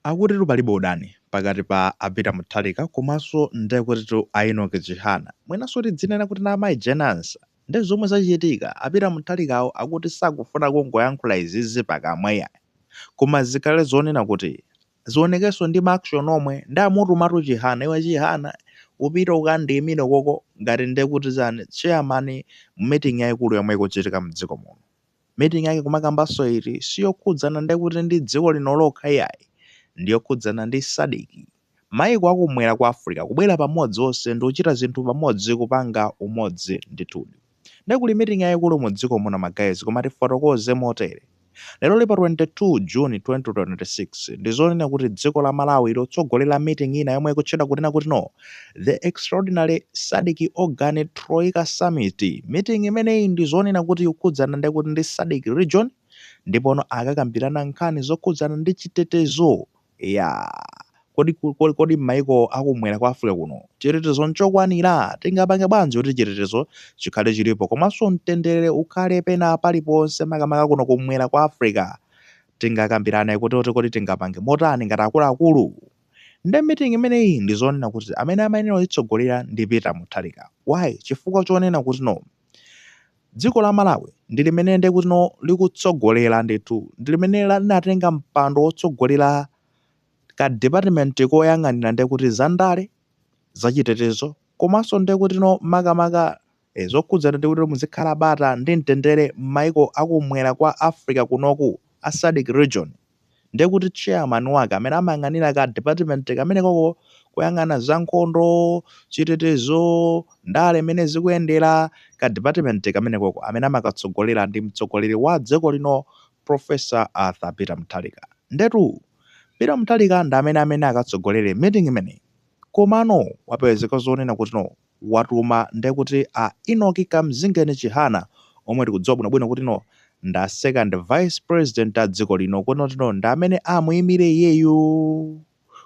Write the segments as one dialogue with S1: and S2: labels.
S1: Akutitu palibe udani pakati pa a Peter Mutharika komanso nde kutitu a Enock Chihana mwinanso tidzinena kuti na Mayi Jane Ansah. Nde zomwe zachitika, a Peter Mutharikawo akuti sakufuna kungoyankhula izizi pakamwa iyayi koma zikhale zoonena kuti zionekenso ndi ma action omwe. Nde amutumatu Chihana, iwe Chihana upite ukandiimire koko ngati nde kuti chani chairman mu meeting yaikulu yomwe ikuchitika mdziko muno. meeting yake kumakambanso iti siyokhudzana ndekuti ndi dziko lino lokha iyayi ndiyokhudzana ndi SADC maiko akumwera kwa Africa kubwera pamodzi onse ndikuchita zinthu pamodzi kupanga umodzi ndithudi nde kuli meeting yaikulu mu dziko muno ma guys koma tifotokoze motere lero li pa 22 June 2026 ndizonena kuti dziko la Malawi likutsogolera meeting ina yomwe ikutchedwa kunena kuti no The extraordinary SADC Organ Troika Summit meeting imeneyi ndi zonena kuti ikukhudzana ndekuti ndi SADC region ndipono akakambirana nkhani zokhudzana ndi chitetezo ya kodi m'mayiko akumwera kwa Africa kuno chitetezo nchokwanira tingapange bwanji kuti chitetezo chikhale chilipo komanso mtendere ukhale pena paliponse makamaka kuno kumwera kwa Africa tingakambirane kuti kodi tingapange motani ngati akuluakulu Nde meeting imeneyi ndi zonena kuti amene amayenera kuitsogolera ndi Peter Mutharika why? Chifukwa chonena kuti no dziko la Malawi ndi limene nde kuti no likutsogolera ndithu ndi limene la- linatenga mpando wotsogolera ka department koyang'anira nde kuti zandale zachitetezo komanso nde kuti no makamaka e Zokhudzana ndekuti muzikhala bata ndi mtendere mmaiko akumwera kwa Africa kunoku a SADC region ndekuti chairman wake amene amayang'anira ka department kamenekoko kuyang'ana za nkhondo, chitetezo, ndale mmene zikuyendera ka department kamenekoko amene amakatsogolera ndi mtsogoleri wa dziko lino Prof. Arthur Peter Mutharika ndetu Peter Mutharika ndi amene amene akatsogolere meeting imeneyi komano wapezeka zonena kuti no watuma ndekuti a Enock Kamzingeni Chihana omwe tikudziwa bwino bwino kuti no nda second vice president a dziko lino kuti no ndi amene amuyimire iyeyu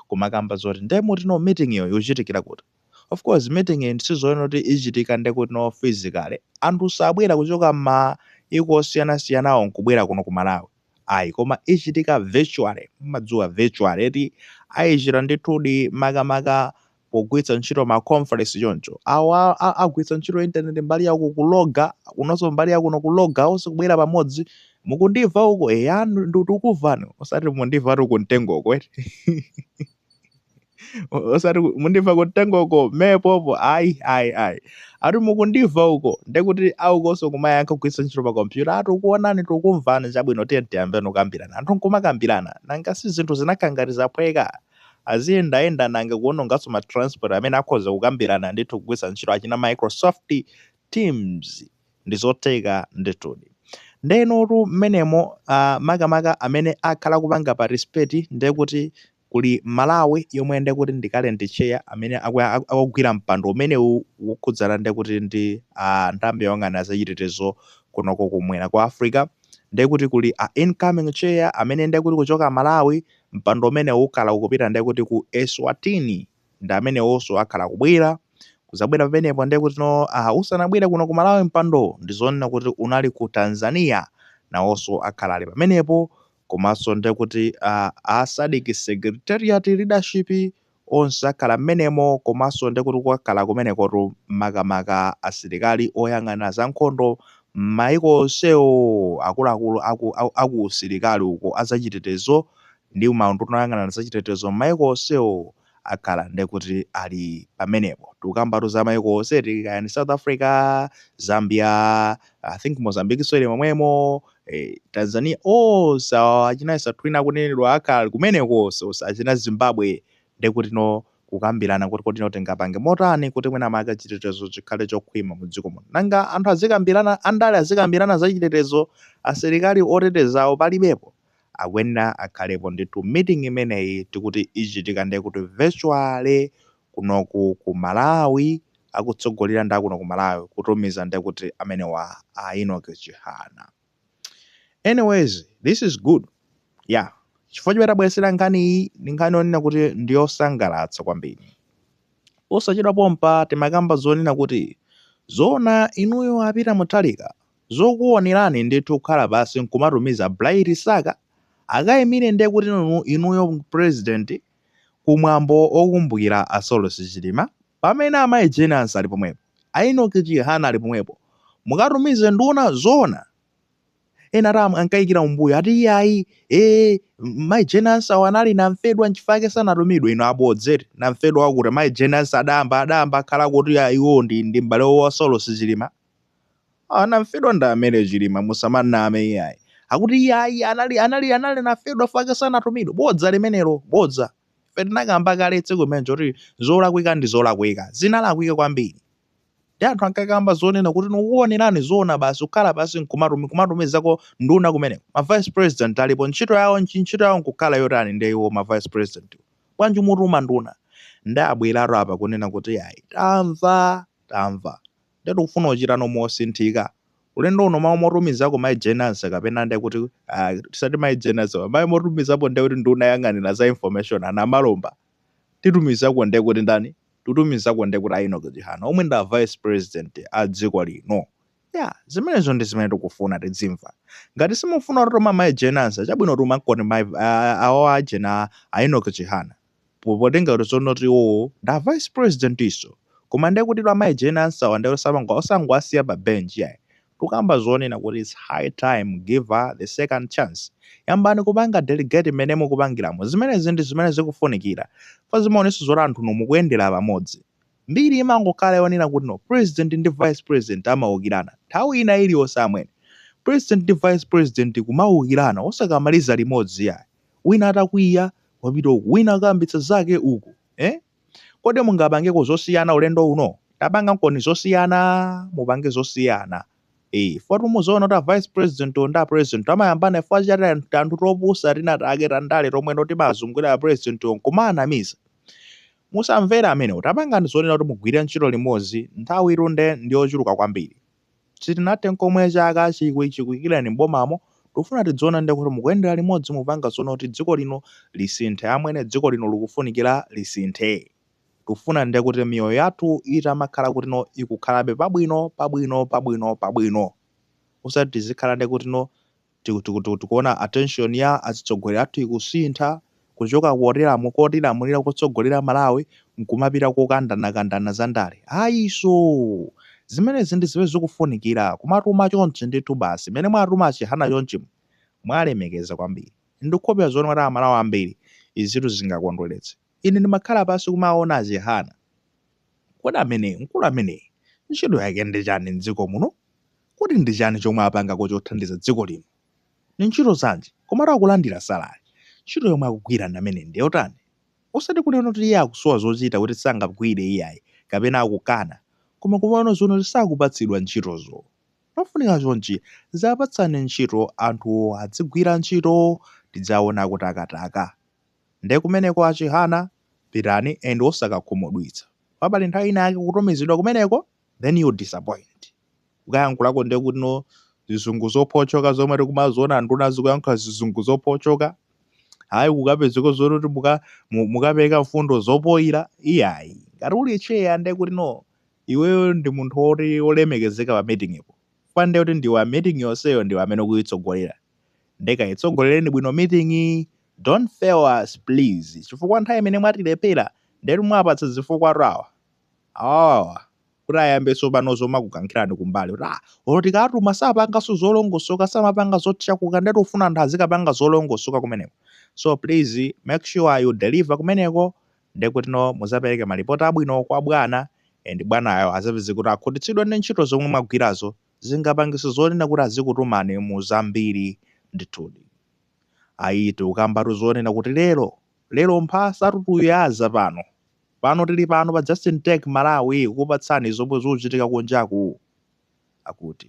S1: kumakamba zoti nde muti no meetingyo ikuchitikira kuti of course meetingyi sizonena kuti ichitika ndekuti no physically anthu sabwera kuchoka mmaiko osiyana siyanawo nkubwera kuno ku Malawi ayi koma ichitika virtually mumadziwa virtually eti ayichita ndithudi makamaka pogwiritsa ntchito ma conference choncho awo a- a- agwiritsa ntchito internet mbali yawo kukuloga kunonso mbali ya kuno kuloga onse kubwera pamodzi mukundiva uko eya ndikukuvani osati mundiva ati kumtengo uko eti O- osati ku- mundiva kumtengo uko mepopo ayi ayi ayi ati mukundiva uko ndekuti aukonso kumayankha kugwiritsa ntchito pa kompyuta ati ukuonani tikumvani chabwino tiye tiyambeni kukambirana anthu nkumakambirana nanga si zinthu zinakhangati zaphweka aziyendayenda nanga kuononganso ma transport amene akhoza kukambirana ndithu kugwiritsa ntchito achina microsoft teams ndi zotheka ndithudi nde inotu mmenemo ah, makamaka amene akhala kupanga participate nde kuti kuli malawi yomwe nde kuti ndi current chair amene aku- aku- akugwira mpando umenewu wokhudzana nde kuti ndi ah, nthambi yoyang'anira zachitetezo kunoko kumwera kwa africa nde kuti kuli a incoming chair amene nde kuti kuchoka malawi mpando umenewu ukhala ukupita ndiye kuti ku Eswatini ndi amenewonso akhala kubwera kuzabwera pamenepo ndiye kuti no uh, usanabwere kuno ku Malawi mpando ndi zonena kuti unali ku Tanzania nawonso akhala ali pamenepo komanso ndiye kuti uh, a SADC secretariat leadership onse akhala mmenemo komanso ndekuti kwakhala kumenekotu makamaka asilikali oyang'anira za nkhondo mmayiko onsewo, akuluakulu aku aku usilikali uko a zachitetezo ndi maunduna oyang'anira za chitetezo mmayiko onsewo akhala ndekuti ali pamenepo. Tikukambatu za mayiko onse eti kaya ndi South Africa, Zambia, I think Mozambiquenso ili momwemo. eh, tanzania onse oh, achina Eswatini akunenedwa akhala kumeneko onse onse achina zimbabwe nde kuti no kukambirana kuti kodi no tingapange motani kuti mwina maka chitetezo chikhale chokhwima mu dziko muno nanga anthu azikambirana andale azikambirana za chitetezo asilikali otetezawo palibepo akuyenera akhalepo ndithu meeting imeneyi tikuti ichitika ndiye kuti virtually kunoku ku Malawi akutsogolera ndi akuno ku Malawi kutumiza nde kuti amenewa a Enoch Chihana anyways this is good yeah chifukwa chimene tabweretsera nkhani iyi ndi nkhani yonena kuti ndi yosangalatsa kwambiri osachedwa pompa timakamba zonena kuti zona inuyo a Peter Mutharika zokuonerani ndithu kukhala pansi nkumatumiza Bright Msaka akayimire nde kuti inu- inuyo president ku mwambo okumbukira a Saulos Chilima pamene amayi Jane Ansah ali pomwepo, a Enoch Chihana ali pomwepo, mukatumize nduna zoona? Ena ati am ankaikira umbuyo ati iyayi ee mayi Jane Ansah-wa anali namfedwa nchifukwa yake sanatumidwe inu abodza eti namfedwa wakuti mayi Jane Ansah adayamba adayamba akhala kuti ah, iwo ndi ndi m'bale wa Saulos Chilima Anamfedwa ndi amene chilima musamaname iyayi akuti iyayi anali anali anali anafedwa fake sanatumidwe bodza limenelo bodza ife tinakamba kale tsiku limenejo kuti zolakwika ndi zolakwika zinalakwika kwambiri ndi anthu ankakamba zonena kuti nukuonerani zoona basi kukhala pasi nkumatumi kumatumizako nduna kumeneko ma vice president alipo ntchito yawo nchi ntchito yawo nkukhala yotani ndiye iwo ma vice president wo bwanji mutuma nduna nde abweratu apa kunena kuti ayi tamva tamva nde tikufuna kuchita no mosinthika ulendo uno mau mutumizako mai Jane Ansah kapena nde kuti ah tisati mai Jane Ansah pa mai mutumizapo nde kuti nduna yoyang'anila za information a namalomba titumizako nde kuti ndani titumizako nde kuti a Enoch chihana omwe ndi a vice president a dziko lino yeah zimenezo ndi zimene tikufuna tidzimva ngati simufuna kutuma mai Jane Ansah chabwino tumankoni mai ah, awo ajena a Enoch chihana Potengera kuti tsono kuti iwowo ndi a vice presidentinso. Koma ndiye kuti amayi Jane Ansah wa ndiye kuti osango osangowasiya pa bench iyayi. Tikukamba zonena kuti it's high time give her the second chance. Yambani kupanga delegate mmene mukupangiramo. Zimenezi ndi zimene zikufunikira. Chifukwa zimaonetsa zoti anthunu mukuyendera pamodzi. Mbiri imangokhala yonena kuti no president ndi vice president amaukirana. Nthawi ina iliyonse amwene. President ndi vice president kumaukirana osakamaliza limodzi iyayi. wina atakwiya wapita uku wina akayambitsa zake uku eh? kodi mungapangeko zosiyana ulendo uno tapangankoni zosiyana mupange zosiyana Eh, fa timadzaona kuti a vice president ndi a president amayambana chifukwa cha tan- tanthu topusa tinatake tandale tomweno timazungulira a president nkumaanamiza musamvere amenewo tapangani zonena kuti mugwire ntchito limodzi nthawi itunde ndiyochuluka kwambiri Sitinathe nkomwe chaka chiku chikuikireni m'bomamo, tikufuna tidziona nde kuti mukuyendera limodzi mupanga zonena kuti dziko lino lisinthe amwene dziko lino likufunikira lisinthe. Tikufuna nde kuti miyoyo yathu itamakhala kutino ikukhalabe pabwino pabwino pabwino pabwino osati tizikhala nde kutino Tikuona attention ya atsogoleri athu ikusintha kuchoka kotilamulira kotsogolera Malawi nkumapita kokandanakandana za ndale. Ayiso! Zimenezi ndi zimene zikufunikira, kumatuma chonchi ndithu basi, mmene mwatuma a Chihana chonchimu, mwalemekeza kwambiri. Ndikukhulupirira zoona kuti a Malawi ambiri izitu zingakondweretse. Ine ndimakhala pansi kumawawona a Chihana. Kodi ameneyo, mkulu ameneyo, ntchito yake ndi chani mdziko muno? Kodi ndi chani chomwe apangako chothandiza dziko lino? Ndi ntchito zanji? Komatu akulandira salary. Ntchito yomwe akugwira nda amene ndi yotani? Osati kunena kuti iye akusowa zochita kuti sangagwire iyayi kapena akukana, koma kumawona zoona kuti sakupatsidwa ntchitozo. Chofunika chonchi, dziwapatsani ntchito anthuwo adzigwira ntchito, tidziwaona akutakataka. Nde kumeneko a Chihana pitani and osakakhumudwitsa paja pali nthawi ina yake kutumizidwa kumeneko then you disappoint. Ukayankhulako nde kuti no zizungu zophotchoka zomwe tikumaziona nduna zikuyankhula zizungu zophotchoka. Ayi kukapezeka zoti mukapereka mfundo zopoyira iyayi. Ngati uli chair nde kuti no iweyo ndi munthu wolemekezeka pa meeting po. Chifukwa nde kuti ndiwe meeting yonseyo ndiwe amene ukuyitsogolera. Nde kayitsogolereni bwino meeting Don't fail us please chifukwa nthawi imene mwatilephera ndetu mwapatsa zifukwatu awa awawawa kuti ayambe tsopano zomakukankhirani kumbali kuti tikatuma sapanganso zolongosoka samapanga zotchakuka ndetu tufuna anthu azikapanga zolongosoka kumeneko so please make sure you deliver kumeneko ndekutino muzapereke malipoti abwino kwa bwana and bwanayo azapeze kuti akhutitsidwa ndi ntchito zomwe mwagwirazo zingapangise zonena kuti azikutumani mu zambiri ndithudi Ayi tikukambatu zonena kuti lero lero mphasatu tuyaza pano pano tili pano pa Justin Tech Malawi kukupatsani zomwe zochitika kunjaku akuti.